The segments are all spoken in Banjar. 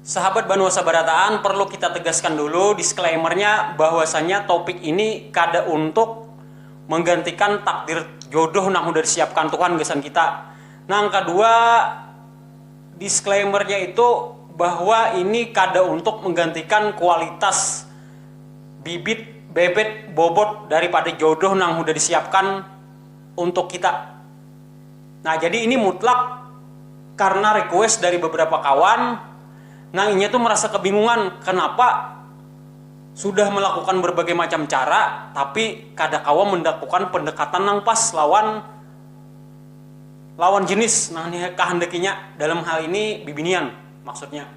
Sahabat Banua Sabarataan, perlu kita tegaskan dulu disclaimer-nya bahwasanya topik ini kada untuk menggantikan takdir jodoh nang sudah disiapkan Tuhan gasan kita. Nang kadua, disclaimer-nya itu bahwa ini kada untuk menggantikan kualitas bibit, bebet, bobot daripada jodoh nang sudah disiapkan untuk kita. Nah, jadi ini mutlak karena request dari beberapa kawan nang inya tu merasa kebingungan kenapa sudah melakukan berbagai macam cara tapi kada kawa mendakukan pendekatan nang pas lawan lawan jenis nang dikahandakinya, dalam hal ini bibinian maksudnya.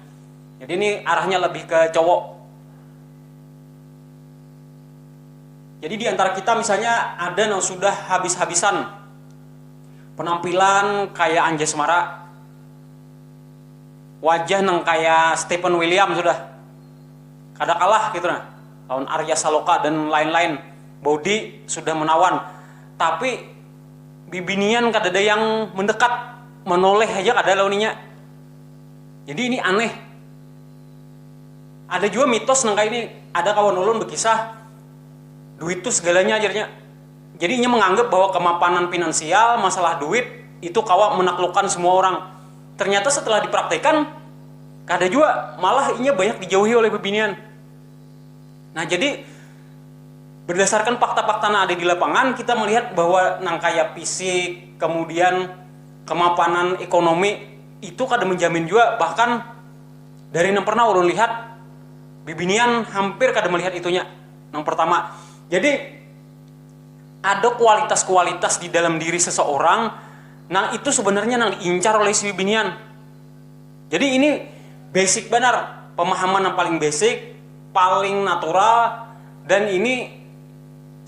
Jadi ini arahnya lebih ke cowok. Jadi di antara kita misalnya ada nang sudah habis-habisan. Penampilan kaya Anjay Semara, wajah nang kaya Stephen William sudah kada kalah ketu nah lawan Arya Saloka dan lain-lain, body sudah menawan tapi bibinian kadada yang mendekat, menoleh haja kada lawan inya, jadi ini aneh. Ada jua mitos nang kaya ini, ada kawan ulun bekisah duit tu segalanya jarnya. Jadi inya menganggap bahwa kemapanan finansial, masalah duit, itu kawa menaklukkan semua orang. Ternyata setelah dipraktekan, kada jua, malah inya banyak dijauhi oleh bebinian. Nah jadi, berdasarkan fakta-fakta nang ada di lapangan, kita melihat bahwa nang kaya fisik, kemudian kemapanan ekonomi, itu kada menjamin jua, bahkan dari nang pernah ulun lihat, bibinian hampir kada melihat itunya, nang pertama. Jadi. ada kualitas-kualitas di dalam diri seseorang nang itu sebenarnya nang diincar oleh si bibinian. Jadi ini basic banar, pemahaman yang paling basic, paling natural, dan ini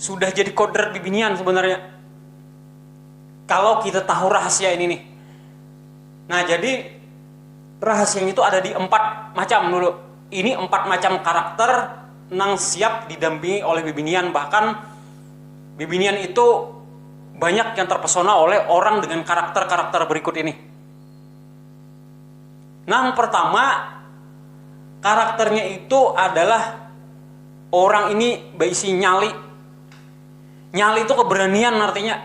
sudah jadi kodrat bibinian sebenarnya. Kalau kita tahu rahasia ini nih. Nah jadi rahasianya itu ada di empat macam dulu, ini empat macam karakter. nang siap didampingi oleh bibinian, bahkan bibinian itu banyak yang terpesona oleh orang dengan karakter-karakter berikut ini. Nang pertama, karakternya itu adalah orang ini baisi nyali, nyali itu keberanian artinya.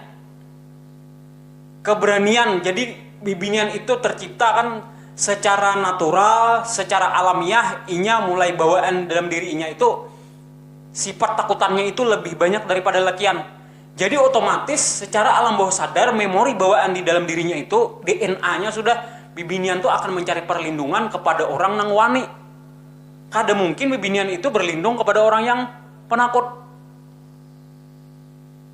keberanian jadi bibinian itu tercipta kan secara natural secara alamiah inya mulai bawaan dalam diri inya itu sifat takutannya itu lebih banyak daripada lelakian jadi otomatis secara alam bawah sadar memori bawaan di dalam dirinya itu DNA nya sudah bibinian tu akan mencari perlindungan kepada orang nang wani kada mungkin bibinian itu berlindung kepada orang yang penakut.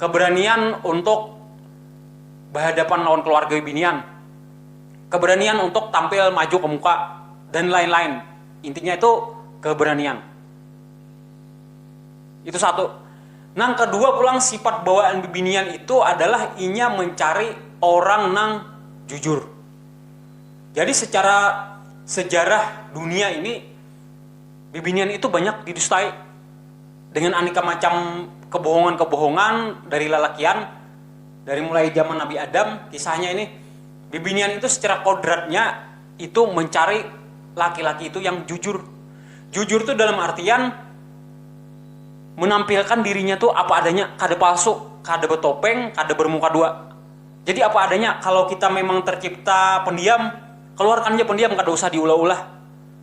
Keberanian untuk bahadapan lawan keluarga binian, keberanian untuk tampil maju ke muka dan lain-lain. Intinya itu keberanian. Itu satu. Nang kedua pulang sifat bawaan bibinian itu adalah inya mencari orang nang jujur. Jadi secara sejarah dunia ini bibinian itu banyak didustai. dengan aneka macam kebohongan-kebohongan dari lalakian dari mulai zaman Nabi Adam kisahnya ini bibinian itu secara kodratnya itu mencari laki-laki itu yang jujur jujur tuh dalam artian menampilkan dirinya tuh apa adanya kada palsu kada betopeng kada bermuka dua jadi apa adanya kalo kita memang tercipta pendiam keluarkan ja pendiam kada usah diulah-ulah.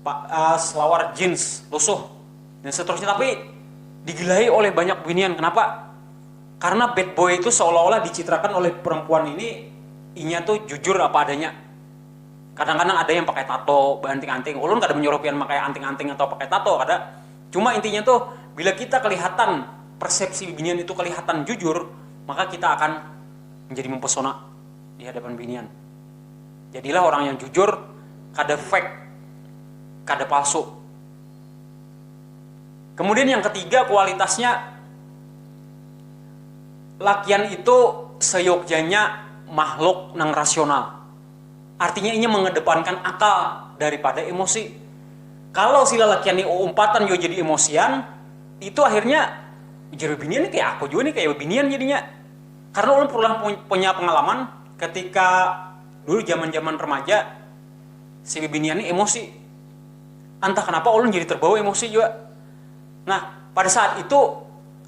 Paas lawar jeans lusuh dan seterusnya tapi digilahi oleh banyak binian kenapa karena bad boy itu seolah-olah dicitrakan oleh perempuan ini inya tu jujur apa adanya kadang-kadang ada yang pakai tato beanting-anting ulun kada menyuruh pian makai anting-anting atau pakai tato kada cuma intinya tu bila kita kelihatan persepsi binian itu kelihatan jujur maka kita akan menjadi mempesona di hadapan binian. Jadilah orang yang jujur, kada fake, kada palsu. Kemudian yang ketiga kualitasnya, lakian itu seyogjanya makhluk nang rasional. Artinya inya mengedepankan akal daripada emosi. Kalau si lalakian ni uumpatan jua jadi emosian, itu akhirnya ujar bibinian ni kaya aku jua ni kaya bibinian jadinya. Karena ulun pulang punya pengalaman ketika dulu jaman-jaman remaja si bibinian ni emosi. Entah kenapa ulun jadi terbawa emosi jua. Nah, pada saat itu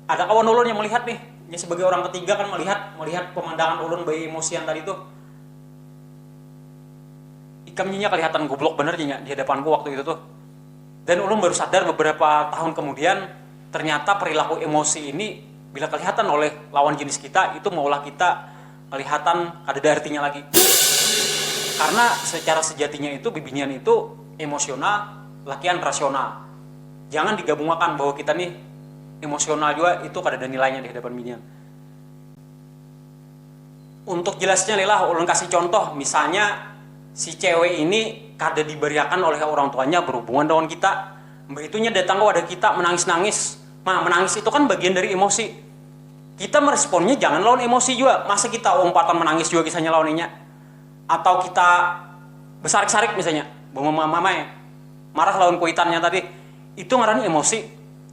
ada kawan ulun yang melihat nih, nya sebagai orang ketiga kan melihat melihat pemandangan ulun baemosian tadi tuh. Ikam nya nya kelihatan goblok banar nya di hadapanku waktu itu tuh. Dan ulun baru sadar beberapa tahun kemudian, ternyata perilaku emosi ini bila kelihatan oleh lawan jenis kita itu maulah kita kelihatan kadada artinya lagi. Karna secara sejatinya itu bibinian itu emosional lakian rasional. Jangan digabungakan bahwa kita nih emosional jua itu kadada nilainya di hadapan binian. Untuk jelasnya lih lah ulun kasih contoh, misalnya si cewek ini kada dibariakan oleh orang tuanya berhubungan dengan kita, mbaitu inya datang ke wadah kita menangis-nangis, ma menangis itu kan bagian dari emosi, kita meresponnya jangan lawan emosi jua, masa kita umpatan menangis jua kisahnya lawan inya atau kita besarik-sarik misalnya, bemamamai marah lawan kuitannya tadi, itu ngarannya emosi.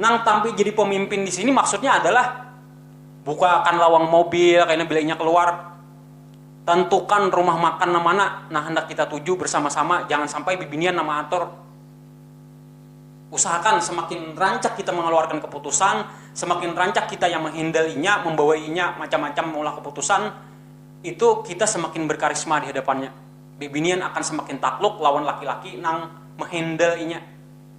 Nang tampil jadi pemimpin di sini maksudnya adalah bukakan lawang mobil kaina bila inya keluar, tentukan rumah makan nang mana nang handak kita tuju bersama-sama, jangan sampai bibinian nang maatur. Usahakan semakin rancak kita mengeluarkan keputusan, semakin rancak kita yang menghandle inya, membawai inya macam-macam meulah keputusan, itu kita semakin berkarisma di hadapannya. Bibinian akan semakin takluk lawan laki-laki nang menghandle inya.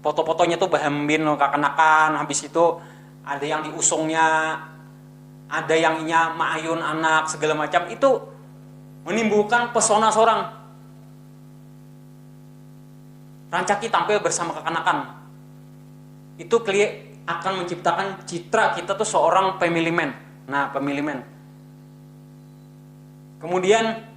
foto-fotonya tuh bahambin kakanakan habis itu ada yang diusungnya ada yang inya maayun anak segala macam itu menimbulkan pesona sorang rancaki tampil bersama kakanakan itu kli akan menciptakan citra kita tuh seorang family man nah family man kemudian.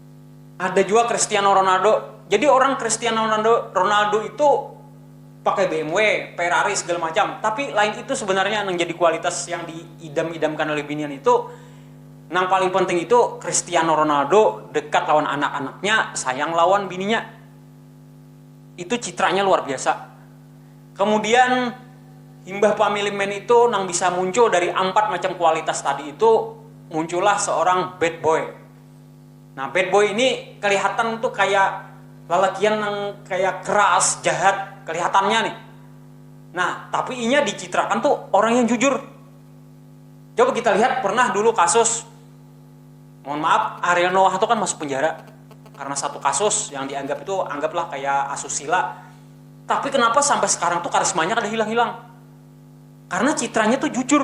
Ada juga Cristiano Ronaldo. Jadi orang Cristiano Ronaldo, Ronaldo itu pakai BMW, Ferrari segala macam. Tapi lain itu sebenarnya yang jadi kualitas yang diidam-idamkan oleh binian itu nang paling penting itu Cristiano Ronaldo dekat lawan anak-anaknya, sayang lawan bininya. Itu citranya luar biasa. Kemudian imbah family man itu nang bisa muncul dari ampat macam kualitas tadi itu muncullah seorang bad boy. Nah bad boy ini kelihatan tuh kaya lalakian nang kaya keras, jahat kelihatannya nih. Nah tapi inya dicitrakan tuh orang yang jujur. Coba kita lihat pernah dulu kasus, mohon maaf Ariel Noah tuh kan masuk penjara karena satu kasus yang dianggap itu anggaplah kaya asusila. Tapi kenapa sampai sekarang tuh karismanya kada hilang-hilang? Karena citranya tuh jujur.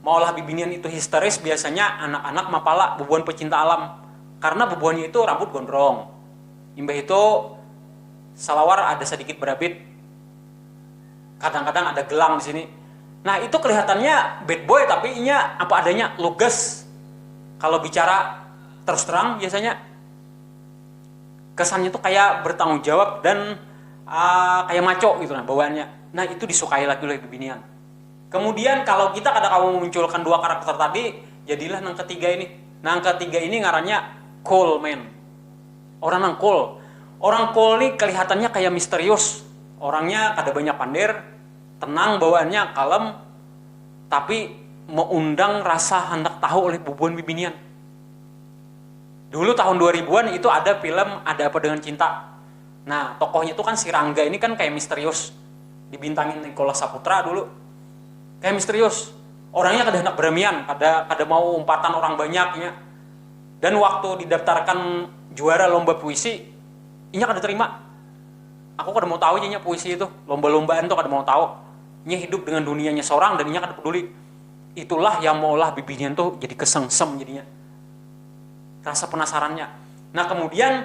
Maulah bibinian itu histeris biasanya anak-anak mapala bubuhan pecinta alam karena bubuhannya itu rambut gondrong. Imbah itu salawar ada sadikit berabit, kadang-kadang ada gelang di sini. Nah, itu kelihatannya bad boy tapi inya apa adanya, lugas kalau bicara terus terang biasanya. Kesannya itu kaya bertanggung jawab dan kaya maco gitu nah bawaannya. Nah, itu disukai lagi oleh bibinian. Kemudian kalau kita kada kawa memunculkan dua karakter tadi, jadilah nang ketiga ini. Nang ketiga ini ngarannya cool man. Orang nang cool. Orang cool ni kelihatannya kaya misterius. Orangnya kada banyak pander, tenang bawaannya, kalem, tapi meundang rasa handak tahu oleh bubuhan bibinian. Dulu tahun dua ribuan itu ada film Ada Apa Dengan Cinta. Nah, tokohnya tuh kan si Rangga ini kan kayak misterius. Dibintangin Nicholas Saputra dulu. Kayak misterius. Orangnya kada handak beramian, kada kada mau umpatan orang banyak inya. Dan waktu didaftarkan juara lomba puisi, inya kada terima. Aku kada mau tahu ja inya puisi itu, lomba-lombaan tuh kada mau tahu. Inya hidup dengan dunianya sorang dan inya kada peduli. Itulah yang maulah bibinian tuh jadi kesengsem jadinya rasa penasarannya. Nah, kemudian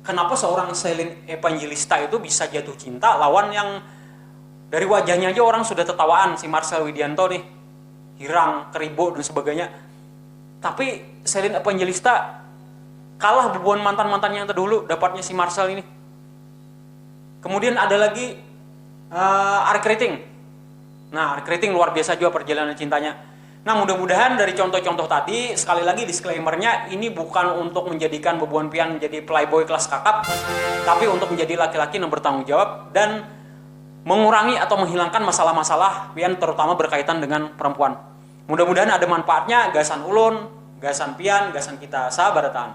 Kenapa seorang Selin Evangelista itu bisa jatuh cinta lawan yang dari wajahnya aja orang sudah tetawaan si Marcel Widianto nih hirang keribo dan sebagainya tapi Selin Evangelista kalah bubuhan mantan mantannya yang terdahulu dapatnya si Marcel ini kemudian ada lagi uh, Ari Keriting nah Ari Keriting luar biasa juga perjalanan cintanya Nah, mudah-mudahan dari contoh-contoh tadi, sekali lagi disclaimer-nya, ini bukan untuk menjadikan bebuan pian menjadi playboy kelas kakap, tapi untuk menjadi laki-laki nang bertanggung jawab dan mengurangi atau menghilangkan masalah-masalah pian terutama berkaitan dengan perempuan. Mudah-mudahan ada manfaatnya gasan ulun, gasan pian, gasan kita sabarataan.